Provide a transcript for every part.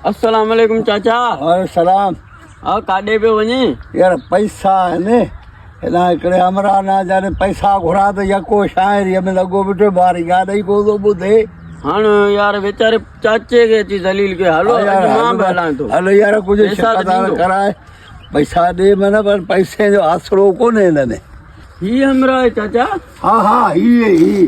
السلام عليڪم چاچا وعليڪم السلام ها ڪاڏي پيو وڃي يار پئسا آهن هيڏانهن هڪڙي امرا نه جڏهن پئسا گهرا ته يڪو شاعري ۾ لڳو بيٺو باري گاڏي ڪو ٿو ٻڌي هاڻ يار ويچاري چاچي کي اچي ذليل کي هلو مان به هلان ٿو هلو يار ڪجهه شڪدار ڪرائي پئسا ڏي من پر پئسي جو آسرو ڪونهي هن ۾ هي امرا چاچا ها ها هي هي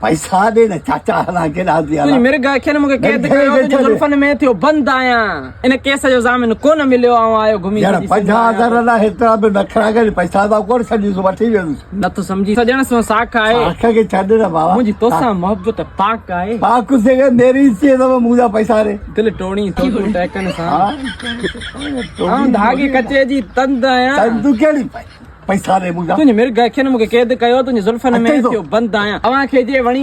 پئسا ڏي نه چاچا هلان ڪيڏانهن ٿي هلان. تنهنجي مرگ اکين مون کي قيد ڪيو تنهنجي زلفن ۾ ٿيو بند آهيان ان ڪيس جو ضامن ڪونه مليو آئون آيو گهمي ڄڻ پنجاهه هزار لاء هيترا به نخرا ڪري پئسا ته ڪونه سڏيس وٺي ويندس. نٿو سمجهين سڄڻ سون ساک آهي. ساک کي ڇڏ نه بابا. منهنجي توسان محبت پاڪ آهي. پاڪ سي گهر ميري سي ته مون جا پئسا ڏي. دل ٽوڙين سو تون ٽهڪن سان. آئون ڌاڳي ڪچي جي تند آهيان. تند ڪهڙي پئي. پئسا ڏي مون جا. تنهنجي مرگ اکين مون کي قيد ڪيو تنهنجي زلفن ۾ ٿيو بند آهيان اوهان کي جي وڻي.